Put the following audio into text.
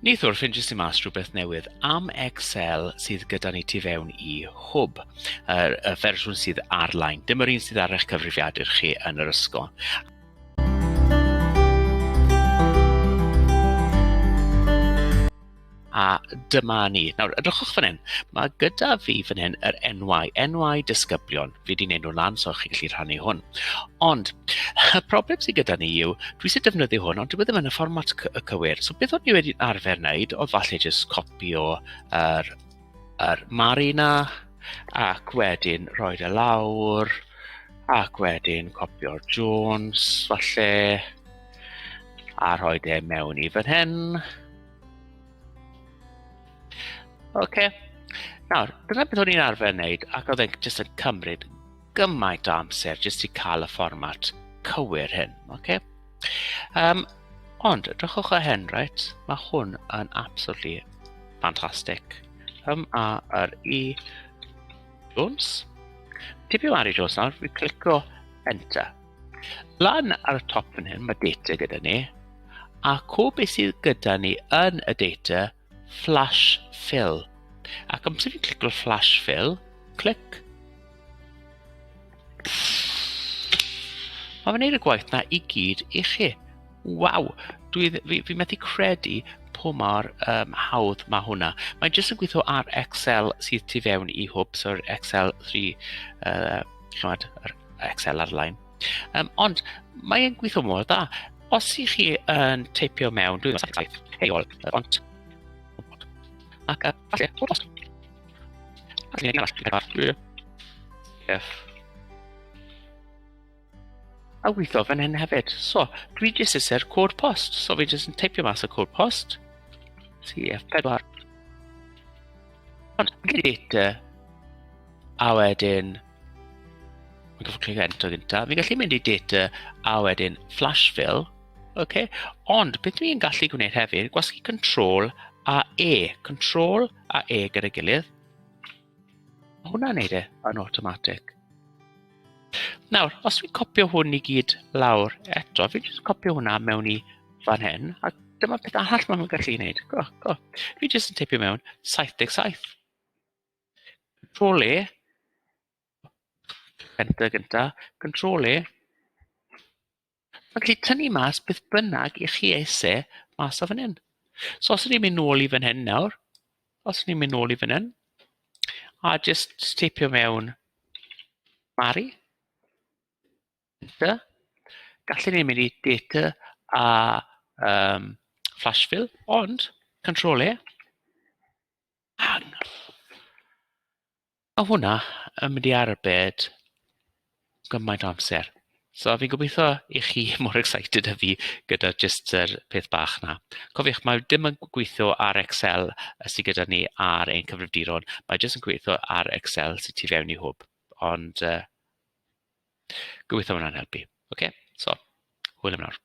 Neithiwr, ffeindiais i mas rhywbeth newydd am Excel sydd gyda ni tu fewn i hwb, yr y fersiwn sydd ar-lein. Dim yr un sydd ar eich cyfrifiadur chi yn yr ysgol. A dyma ni. Nawr, edrychwch fan hyn. Mae gyda fi fan hyn yr enwau, enwau disgyblion. fi wedi wneud nhw lan so chi'n gallu rhannu hwn. Ond y problem sydd gyda ni yw, dwi eisiau defnyddio hwn, ond dwi e ddim yn y fformat y cywir. So beth o'n i wedi arfer wneud, oedd falle jyst copio yr, yr mari na, ac wedyn rhoi y e lawr, ac wedyn copio'r Jones, falle, a rhoi e mewn i fan hyn. OK. Nawr, dyna beth o'n i'n arfer wneud, ac oedd e'n jyst yn cymryd gymaint o amser jyst i cael y fformat cywir hyn. Okay? Um, ond, dychwch o hyn, right? Mae hwn yn absolutely fantastic. Um, a yr i Jones. Tipio ar i Jones nawr, fi clicio Enter. Lan ar y top fan hyn, mae data gyda ni, a co beth sydd gyda ni yn y data Flash Fill. Ac amser fi'n clicio Flash Fill, clic. Mae fe'n gwneud y gwaith na i gyd i chi. Waw! Dwi, fi, fi methu credu po mor um, hawdd mae hwnna. Mae jyst yn gweithio ar Excel sydd tu fewn i hwb, so'r Excel 3, uh, chymod, yr Excel ar-lein. Um, ond mae'n gweithio mor dda. Os i chi yn teipio mewn, dwi'n meddwl saith, hei ol, ond... Ac a, falle, bod os. Ac ni'n arall, dwi'n arall, Yes. A weithio fan hyn hefyd. So, dwi jyst eisiau'r cod post. So, fi jyst yn teipio mas y cod post. CF4. Ond, gyda data, a wedyn, Ond os chi'n enter gyntaf, fi'n gallu mynd i data a wedyn flash fill. OK. Ond beth dwi'n gallu gwneud hefyd, gwasgu control a E. Control a E gyda'i gilydd. Mae hwnna'n neud e yn automatic. Nawr, os fi'n copio hwn i gyd lawr eto, fi'n just copio hwnna mewn i fan hyn, a dyma peth arall maen nhw'n gallu gwneud. Go, go. Fi jyst yn tipio mewn 77. Control E. Enter gynta. Control E. Felly tynnu mas beth bynnag i chi eisiau mas o fan hyn. So os ni'n mynd nôl i fan hyn nawr, os ni'n mynd nôl i fan hyn, a just steipio mewn Mari. Enter. Gallen ni'n mynd i data a um, flash fill, ond control E. Iawn. Ma' hwnna yn mynd i arbed gymaint o amser. So fi'n gobeitho i chi mor excited â fi gyda jyst yr peth bach 'na. Cofiwch mae dim yn gweithio ar Excel yy sy gyda ni ar ein cyfrifiaduron, mae jyst yn gweithio ar Excel sy tu fewn i hwb, ond yy gobeitho ma' hwnna'n helpu. Ocê so hwyl am nawr.